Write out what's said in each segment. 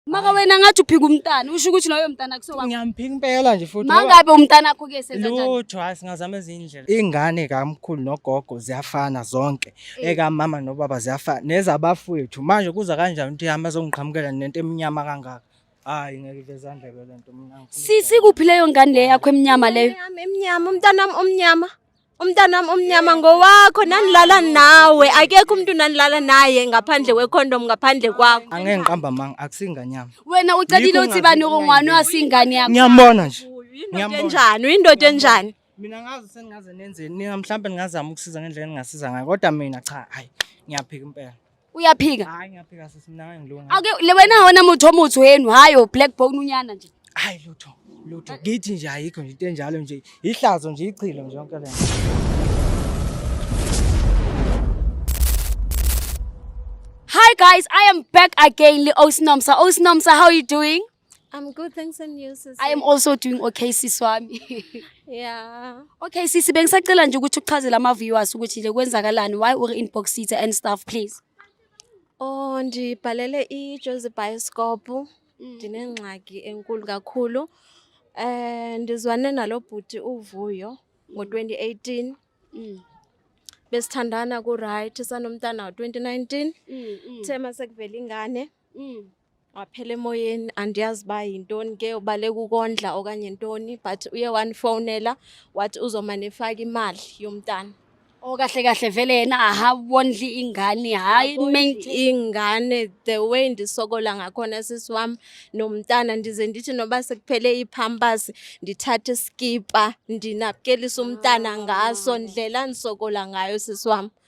Maka wena ngathi uphika umntana usho ukuthi loyo mntana kusowa. Ngiyamphika impela nje futhi. Mangabe umntana wakho ke senza kanjani? Lutho hayi singazama ezindlela. Ingane kamkhulu nogogo ziyafana zonke. Eh. Eka mama nobaba ziyafana nezabafowethu. Manje kuza kanjani ukuthi hamba azongiqhamukela nento emnyama kangaka? Hayi ngeke ivezandla lento mina. Sisi kuphi leyo ngane leyo yakho emnyama leyo? Emnyama, emnyama umntana omnyama. umntanami omnyama ngowakho nanilala nawe akekho umuntu nanilala naye ngaphandle wekhondom ngaphandle kwakho angeke ngiqamba manga akusinganyama wena ucelile uthi bani okungwani wasingane yakho ngiyambona nje uyindoda enjani uyindoda enjani mina ngazi sengingaze nenzeni nina mhlawumbe ningazama ukusiza ngendlela engingasiza ngayo kodwa mina cha hayi ngiyaphika impela uyaphika hayi ngiyaphika sisi mina ngeke ngilunga ake le wena wona muthi omuthi wenu hayi o black bone unyana nje hayi lutho lutho ngithi nje ayikho nje into enjalo nje ihlazo nje ichilo nje yonke le Hi guys, I am back again, Li Osnomsa. Osnomsa, how are you doing? I'm good, thanks and you sisi. I am also doing okay sisi wami. Yeah. Okay sisi bengisacela nje ukuthi uchazele ama viewers ukuthi nje kwenzakalani why uri inbox city and stuff please. Oh ndibhalele i Jozi Bioscope. Mm. Ndinengxaki enkulu kakhulu. Eh ndizwane nalobhuti uvuyo ngo-2018. Mm. Besithandana ku right sanomntana ngo-2019. Mm, mm. Thema sekuvela ingane. Mm. waphela emoyeni andiyazi uba yintoni ke ubaleka ukondla okanye ntoni but uye wandifowunela wathi uzomane efaka imali yomntana o kahle kahle vele yena ahawondli ingane hayi main ingane the way ndisokola ngakhona sisi wam nomntana ndize ndithi noba sekuphele iipampers ndithathe iskipa ndinapkelise umntana ngaso ndlela ndisokola ngayo sisi wam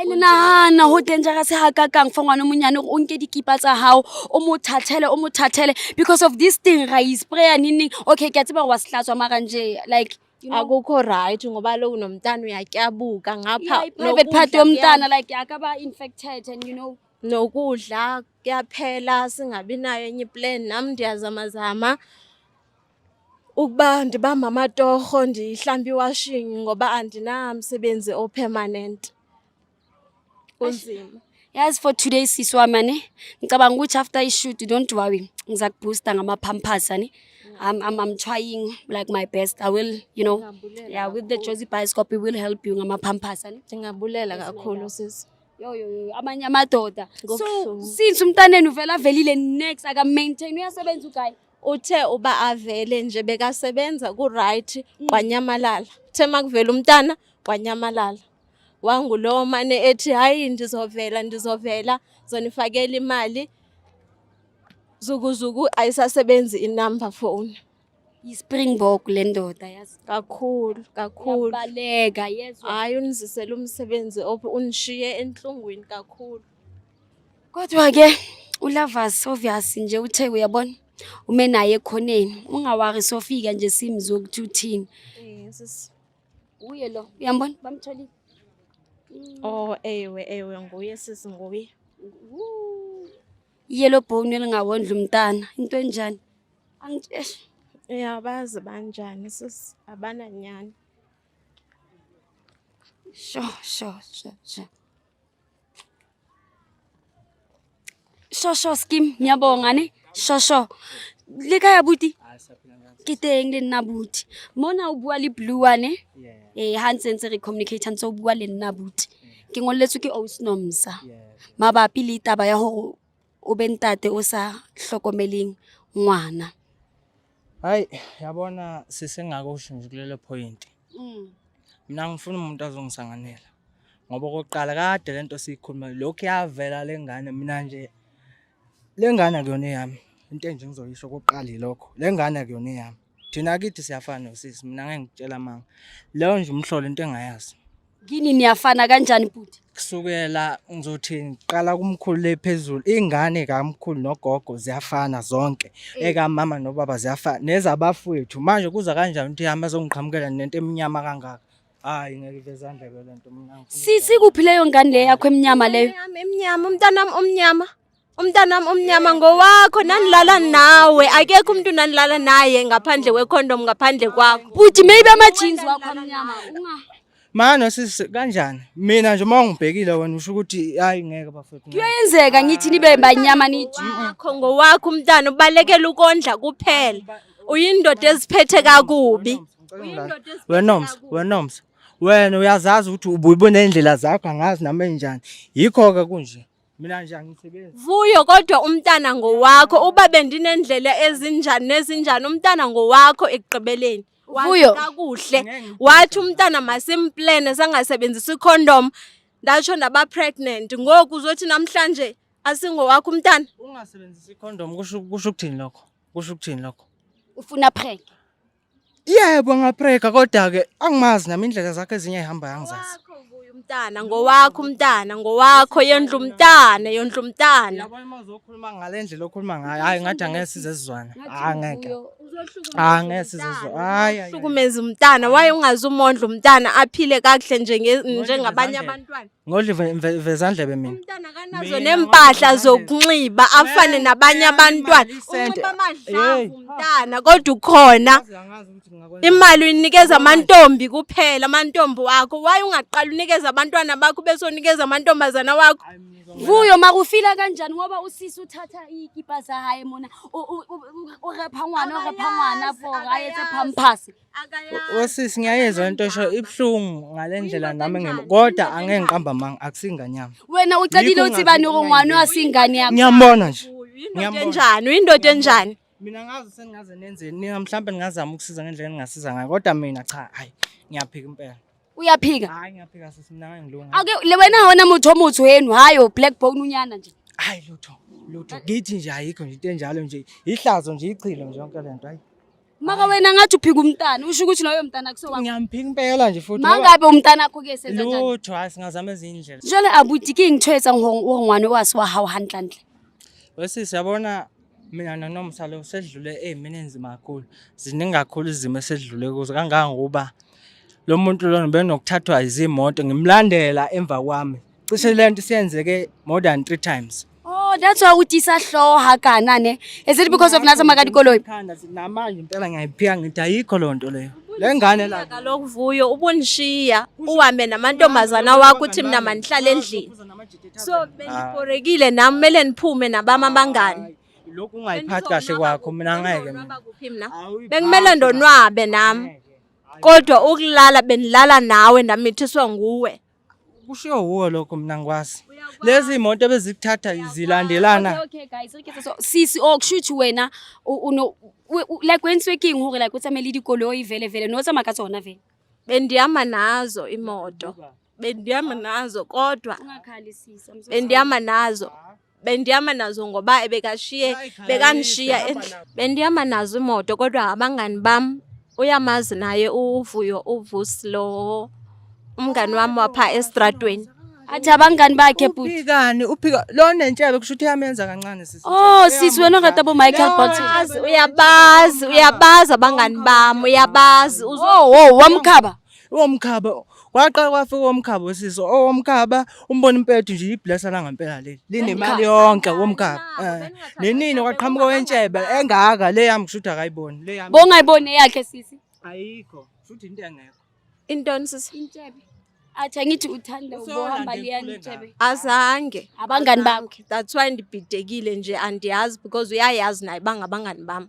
And nahana ho dangerous ha ka kang for ngwana monyane o nke dikipa tsa hao o mo thathele o mo thathele because of this thing ra e sprayer nini okay ke a tseba wa sehlatswa mara nje like you know, akukho right ngoba lo unomntana uyatyabuka ngapha yeah, private part yomntana like akaba infected and you know nokudla kuyaphela singabi nayo enye plan nam ndiyazamazama ukuba ndibamba amatorho ndihlambe iwashing ngoba andinamsebenzi opermanent kunzima yazi for today sisi wami ani ngicabanga ukuthi after ishoot don't worry ngiza kuboosta ngama-pampers ani I'm, I'm, I'm trying like my best i will you know yeah with the josi bioscope we will help you ngama-pampers ani ndingabulela kakhulu sisi yoyoyo amanye amadoda so since umntaneni uvela avelile next akamaintain uyasebenza ugayi Uthe uba avele nje bekasebenza ku-right mm. kwanyamalala. Uthe uma kuvela umntana kwanyamalala. Wangulowo mane ethi hhayi ndizovela ndizovela zonifakela imali zukuzuku ayisasebenzi inumber phone yispringbok le ndoda yazi kakhulu kakhulu yabaleka yezwa hayi unizisela umsebenzi unishiye enhlungwini kakhulu Kodwa ke uLavas obvious nje uthe uyabona ume naye ekhoneni ungawari sofika nje simzwe ukuthi uthini. Yes. Uye lo uyambona bamtholile. Oh ewe ewe nguye sisi nguye. Yellow bone elingawondla umntana into enjani? Angitsheshe. Uyabazi banjani sisi abananyani. Sho sho sho sho. shosho skim ngiyabonga ne shosho le kaya buti ke teng le nna buti mona o bua le blue one ee eh, ha ntse ntse re communicate ntse o bua le nna buti ke ngolletswe ke osnomsa mabapi le taba ya gore o be ntate o sa hlokomeleng ngwana hayi yabona sesengakusho nje kulelo point mm. mina ngifuna umuntu azongisanganela ngoba okokuqala kade le nto siyikhuluma lokhu yavela le ngane mina nje le ngane akuyona eyami into enje ngizoyisho okokuqala yilokho le ngane akuyona eyami thina kithi siyafana nosisi mina ngeke ngitshela amanga leyo nje umhlolo into engayazi kini niyafana kanjani bhuti kusukela ngizothi ngiqala kumkhulu le phezulu ingane kamkhulu nogogo ziyafana zonke eh. ekamama nobaba ziyafana nezabafowethu manje kuza kanjani ukuthi hamba zongiqhamukela nento emnyama kangaka hayi ngeke ivezandla ke lento mina sisi kuphi leyo ngane leyo yakho emnyama leyo emnyama umntanami omnyama umntanami omnyama ngowakho nanilala nawe akekho umuntu nanilala naye ngaphandle kwecondom ngaphandle kwakho bhuti maybe ama-jeans wakho amnyama unga Mano sisi kanjani? Mina nje uma ungibhekile wena usho ukuthi hayi ngeke bafethu. Kuyenzeka ngithi nibe banyama niji. Wakho ngowakho umntana ubalekela ukondla kuphela. Uyindoda eziphethe kakubi. Wenoms, wenoms. Wena uyazazi ukuthi ubuyibona indlela zakho angazi nami enjani. Yikho ke kunje. mina nje angisebenzi vuyo kodwa umntana ngowakho uba bendinendlela ezinjani nezinjani umntana ngowakho ekugqibeleni vuyo kakuhle wathi umntana masimplene sangasebenzisa icondom ndatsho ndaba pregnant ngoku uzothi namhlanje asingowakho umntana ungasebenzisa icondom kusho ukuthini lokho kusho ukuthini lokho ufuna prank Yebo ngaprega kodwa ke angimazi nami indlela zakhe ezinye ehamba yangizazi. Umntana ngowakho umntana ngowakho yendlu umntana yendlu umntana. Yabo uma uzokhuluma ngalendlela okhuluma ngayo hayi ngathi angeke size sizwane. Hayi ngeke. Hayi ngeke size sizwane. Hayi hayi. Hlukumeza umntana waye ungazi umondla umntana aphile kakuhle nje njengabanye abantwana. Ngodli ve- ve- vezandlebe mina. umntana kanazo nempahla zokunxiba afane nabanye abantwana unxiba amadlavu umntana kodwa ukhona imali uyinikeza amantombi kuphela amantombi wakho waye ungaqala unikeza abantwana bakho bese unikeza amantombazana wakho vuyo makufila kanjani ngoba usisi uthatha ikipa zahaye mona urepha ngwana urepha ngwana for haye sephamphasi Osisi ngiyayezwa into osho ibuhlungu ngale ndlela nami ngem kodwa angeke ngiqamba amanga akusingane yami. Wena ucabile Yikho uthi bani ngingafuni ongwani ukungayizwa. wasingane yakho. Ngiyambona nje. Uyindoda Ngiyambona. enjani? Uyindoda enjani? Mina ngazi sengaze nenzeni. Nina mhlawumbe ningazama ukusiza ngendlela engasiza ngayo kodwa mina cha hayi ngiyaphika impela. Uyaphika. Hayi ngiyaphika sisi mina ngeke ngilunge. Ake le wena wona muthi omuthi wenu hayo black bone unyana nje. Hayi lutho. Lutho. Ngithi nje ayikho nje into enjalo nje. Ihlazo nje ichilo nje yonke lento hayi. Maka wena ngathi uphika umntana usho ukuthi loyo mntana kusewakho. Ngiyamphika impela nje futhi. Mangabe umntana akho ke senza kanjani? Lutho asingazama izindlela. Jale abuti ke ngithwetsa ngongwane wasi wa how handlandle. Wesisi yabona mina nonomsa lo sedlule ezimini enzima kakhulu. Ziningi kakhulu izimo esedlule kuzo kangangokuba lo muntu lona benokuthathwa izimoto ngimlandela emva kwami cishe le nto isiyenzeke more than three times Oh, that's why uthi isahloho hakana ne. Is it because of nathi amakati koloi? Khanda sinamanje impela ngiyayiphika ngithi ayikho loo nto leyo le ngane la Kaloku vuyo ubunishiya uhambe namantombazana wakho uthi mina manihlale endlini. So Ah. benibhorekile nami kumele niphume nabami abangani. lokhu ungayiphathi kahle kwakho mina ngeke mina. Bendizonwaba kuphi mina? Awuyiphathi Bekumele kahle. ndonwabe nami. Kodwa ukulala benilala nawe ndamithiswa nguwe. kushiwo wuwo lokho mina ngikwazi lezi imoto ebezikuthatha zilandelana okay guys okay so sisi oh kusho ukuthi wena uno like when speaking hore like utsamele dikoloi vele vele no tsamaya ka tsona vele bendihamba nazo imoto bendihamba nazo kodwa bendihamanazo bendihamba nazo ngoba ebekashiye bekanishiya bendihamba nazo imoto kodwa abangani bam uyamazi naye uvuyo uvusi lo umngani wami wapha estradweni athi abangani bakhe bhuti uphikani uphika lo nentshebe kusho ukuthi yamenza kancane sisi oh sisi wena ngata bo Michael Bolton uyabazi uyabazi abangani bami uyabazi uzo oh, oh wamkhaba Owomkhaba kwaqala kwafika owomkhaba usisi owomkhaba umbona impethu nje iblesa la ngempela leli linemali yonke womkhaba eh, nenini kwaqhamuka wentshebe engaka le yami kushuthi akayiboni le yami bongayiboni eyakhe sisi ayikho futhi into engekho intoni sisi intshebe athi angithi uthanda ukuhamba liyanitshebe azange abangani bakhe that's why ndibhidekile nje andiyazi because uyayazi naye bangabangani bami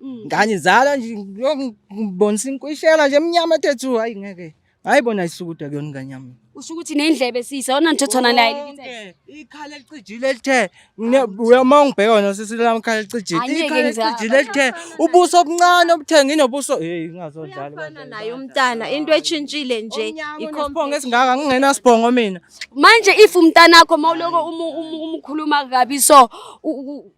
Mm. Nganizala nje ngibonisa inkwishela nje emnyama thethu hayi ngeke. Hayi bona isukuda kuyona ingane yami. Usho ukuthi nendlebe sisa ona nthothona naye lithe. Ikhala elicijile elithe uyama ungibheka wena sisi lami ikhala elicijile. Ikhala elicijile elithe ubuso obuncane obuthengi nobuso hey ingazodlala. Ufana naye umntana into echintshile nje ikhombonga esingaka ngingena sibongo mina. Manje if umntana wakho mawuloko umukhuluma kabi so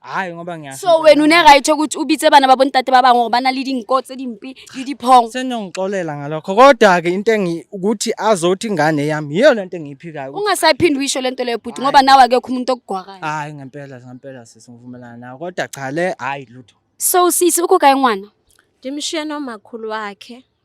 hayi ngoba ngiya so wena une right ukuthi ubitse bana babo ntate baba ngoba bana le dinko tse dimpi le diphong senongixolela ngalokho kodwa ke into engi ukuthi azothi ingane yami yiyo lento engiyiphikayo ungasayiphindi uyisho lento leyo bhuti ngoba nawe akekho umuntu okugwakayo hayi ngempela ngempela sisi ngivumelana nawe kodwa cha le hayi lutho so sisi ukugaye ngwana ndimshiye nomakhulu wakhe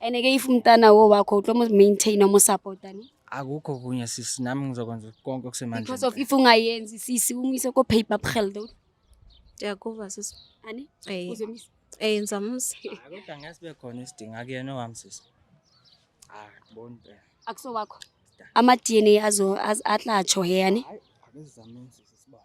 And ke if umntana wo wakho utlo mo maintain mo support ani. akukho kunye sisi nami ngizokwenza konke Because of okusemandleni if ungayenzi sisi umyise ko paper gelde Ndiyakuva sisi. ani Eh, uzomisa. eh ngizamusa. Hayi, kodwa ngeke sibe khona isidingo akuyena owami sisi Ah, hayi ngiboni impela Akuso wakho. Ama DNA azo az- atlatsho he ani. hayi akuzizameni sisi sibona